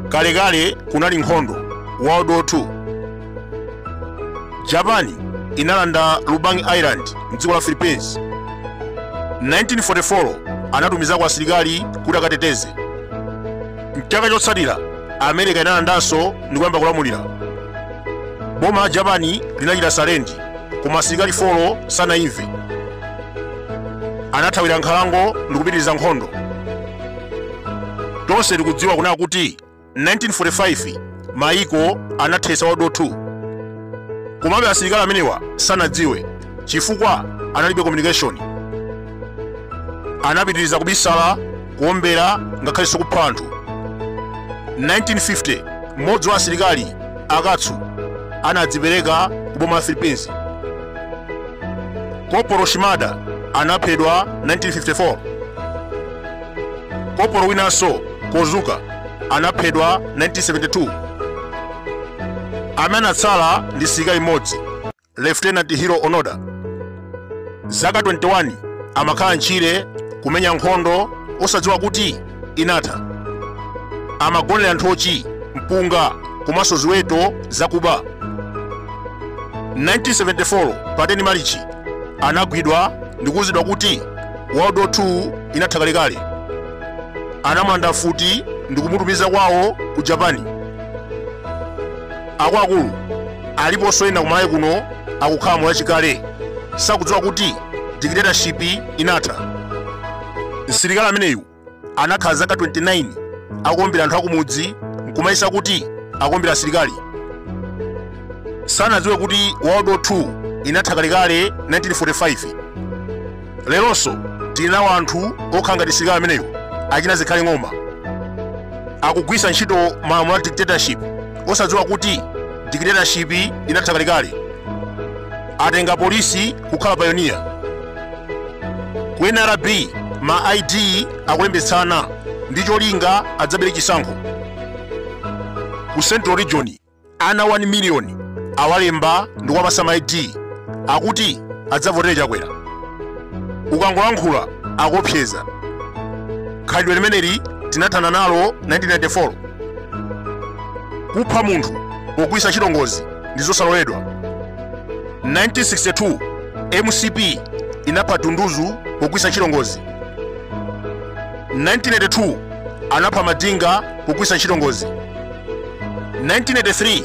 kalekale kunali nkhondo world war 2 japani inalanda lubang island mdziko la philippines 1944 anatumizako asilikali kuti akateteze mchaka chotsatira america inalandanso ndi kuyamba kulamulira boma la japani linachita sarenda koma asilikali folo sanamve anathawira nkhalango ndikupitiriza nkhondo tonse tikudziwa kunena kuti 1945 mayiko anathetsa world war 2 komabe asilikali amenewa sanadziwe chifukwa analibe communication anapitiriza kubisala kuombera ngakhalenso kupha anthu 1950 mmodzi wa asilikali akatsu anadzipereka ku boma la philippines kopolo shimada anaphedwa 1954 kopolo winanso kozuka anaphedwa 1972 amene anatsala ndi msilikali mmodzi Lieutenant Hiroo Onoda zaka 21 amakhala ntchire kumenya nkhondo osadziwa kuti inatha amagonera nthochi mpunga komanso ziweto zakuba 1974 pa 10 malichi anagwidwa ndikuwuzidwa kuti world war 2 inatha kalekale anamulanda mfuti ndikumutumiza kwawo ku japani akuluakulu aliponso ena kumalawi kuno akukhala moyo wachikale sakudziwa kuti dictatorship inatha msilikali ameneyu anakhala zaka 29 akuombera anthu akumudzi nkumayesa kuti akuombera asilikali sanadziwe kuti world war 2 inatha kalekale 1945 leronso tili nawo anthu okhala ngati msilikali ameneyo achina zikhale ng'oma akugwiritsa ntchito malamulo a dictatorship osadziwa kuti dictatorship inatha kalekale atenga polisi kukhala payoniya ku nrb ma id akulembetsana ndi cholinga adzabere chisankho ku central region Ana 1 miliyoni awalemba ndi kuwapatsa ma ID akuti adzavotere Chakwera. Ukangolankhula akuopseza. Khalidwe limeneli tinathana nalo 1994. Kupha munthu pogwiritsa ntchito ngozi ndi zosaloledwa. 1962 MCP inapha Dunduzu pogwiritsa ntchito ngozi. 1982 anapha Madinga pogwiritsa ntchito ngozi. 1983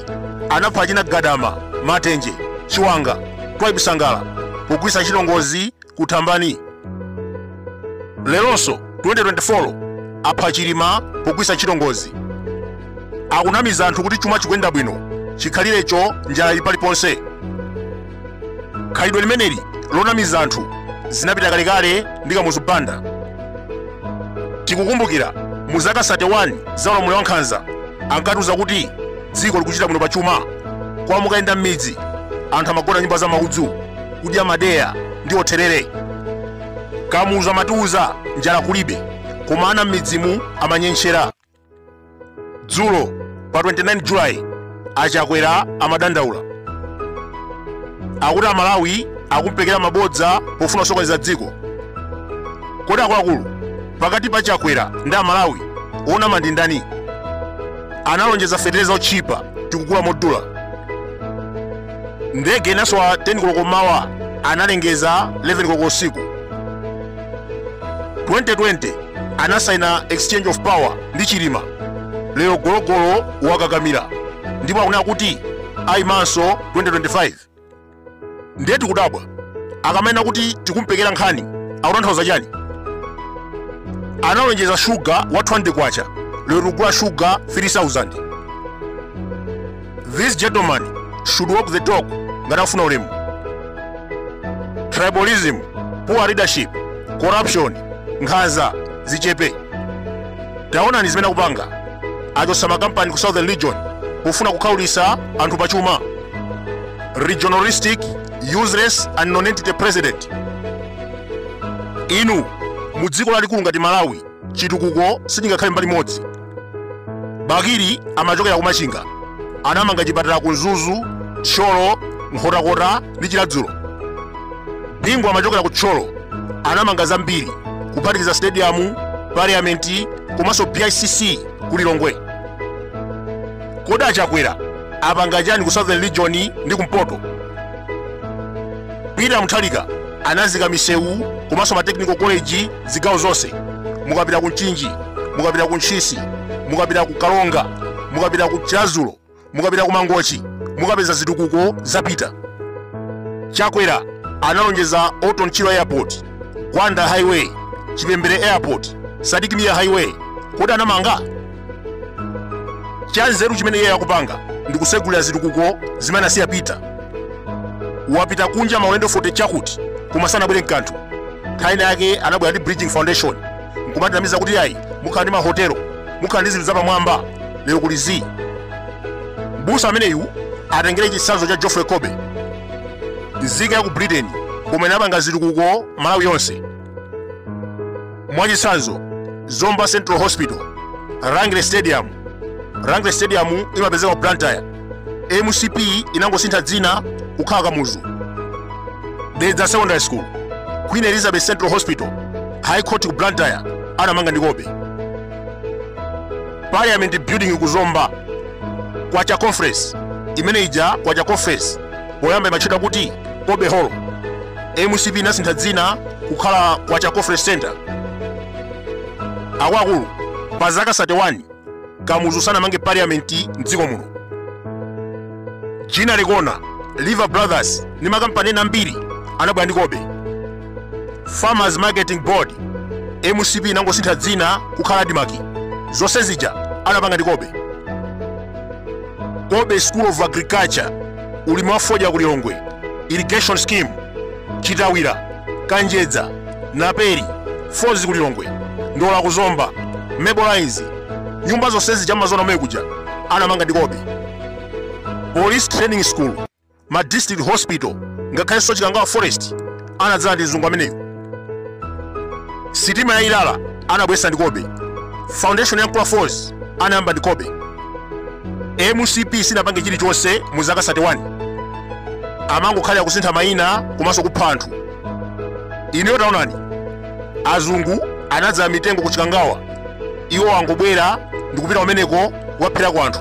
anapha achina gadama matenje chiwanga twaibu sangala pogwirisa ntchito ngozi ku thambani leronso 2024 apha chilima pogwirisa ntchito ngozi akunamiza anthu kuti chuma chikuyenda bwino chikhalirecho njala ili paliponse khalidwe limeneli lonamiza anthu zinapita kalekale ndi kamuzu banda tikukumbukira mu zaka 31 za ulamuliro wa nkhanza ankatiuza kuti dziko likuchita bwino pa chuma koma mukayenda m'midzi anthu amagona nyumba za maudzu kudya madeya ndi therere kamuzu amatiuza njala kulibe koma ana m'midzimu amanyentchera dzulo pa 29 julayi achakwera amadandaula akuti amalawi akumpekera mabodza pofuna kusokoneza dziko kodi akuluakulu pakati pa chakwera ndi amalawi onama ndi ndani analonjeza fetereza otchipa tikugula modula ndege inasowa 10 koloko mawa analengeza 11 koloko usiku 2020 anasaina exchange of power ndi chilima lero gologolo wakakamira ndipo akunena kuti ayimanso 2025 ndiye tikudabwa akamanena kuti tikumpekera nkhani akutanthauza chani analonjeza shuga wa 20 kwacha lero tikugula shuga 3000 this gentleman should walk the talk ngati afuna ulemu tribalism poor leadership corruption nkhanza zichepe taonani zimene akupanga achosa makampani ku southern region pofuna kukhaulitsa anthu pachuma regionalistic useless and nonentity president inu mu dziko lalikulu ngati malawi chitukuko sichingakhale mbali imodzi bakili amachokera ku machinga anamanga chipatala ku mzuzu tcholo nkhotakota ndi chiladzulo bingu amachokera ku tcholo anamanga zambiri kuphatikiza stadium parliament komanso bicc ku lilongwe kodi achakwera apanga chani ku southern region ndi kumpoto peter mutharika anazika misewu komanso ma technical college zigawo zonse mukapita ku mchinji mukapita ku ntchisi mukapita ku kalonga mukapita ku chilazulo mukapita ku mangochi mukapeza zitukuko za peter chakwera analonjeza orton chirwa airport gwanda highway chipembere airport sidik mia highway kodi anamanga chanzeru chimene iye akupanga ndi kusegulira zitukuko zimene asiya peter wapita kunja maulendo 40 chakuti koma sanabwere mkanthu nkhani yake anabwera ndi bridgin foundation nkumatinamiza kuti ayi mukhala ndi mahotelo mukhala ndi zinthu zapamwamba lero kuli zii mbusa ameneyu atengere chitsanzo cha geoffrey colby nzika ya ku britain koma inapanga zitukuko malawi yonse mwachitsanzo zomba central hospital rangeley stadium rangeley stadium imapezeka ku blantyre mcp inangosintha dzina kukhala kamuzu dedza secondary school queen elizabeth central hospital high court ku blantyre anamanga ndi colby parliament building ku zomba kwacha conference imene ija kwacha conference poyamba imatchedwa kuti colby hall mcp inasintha dzina kukhala kwacha conference center akuluakulu pa zaka 31 kamuzu sanamange parliament mdziko muno ginnery corner lever brothers ndi makampani ena ambiri anabwera ndi colby farmers marketing board mcp inangosintha dzina kukhala admarc zonse zija anapanga ndi colby colby school of agriculture ulimi wa fodya ku lilongwe irrigation scheme chitawira kanjedza naperi falls ku lilongwe ndola ku zomba mable lines nyumba zonsezi chamazona omwe kuja anamanga ndi colby police training school ma district hospital ngakhalenso chikangawa forest anadzala ndi mzungu ameneyo sitima ya ilala anabwesa ndi colby foundation ya nkula falls anayamba ndi colby mcp sinapange chilichonse mu zaka 31 amangokhalira kusintha mayina komanso kupha anthu ineyo taonani azungu anadzala mitengo ku chikangawa iwo angobwera ndikupita kumeneko kukapherako anthu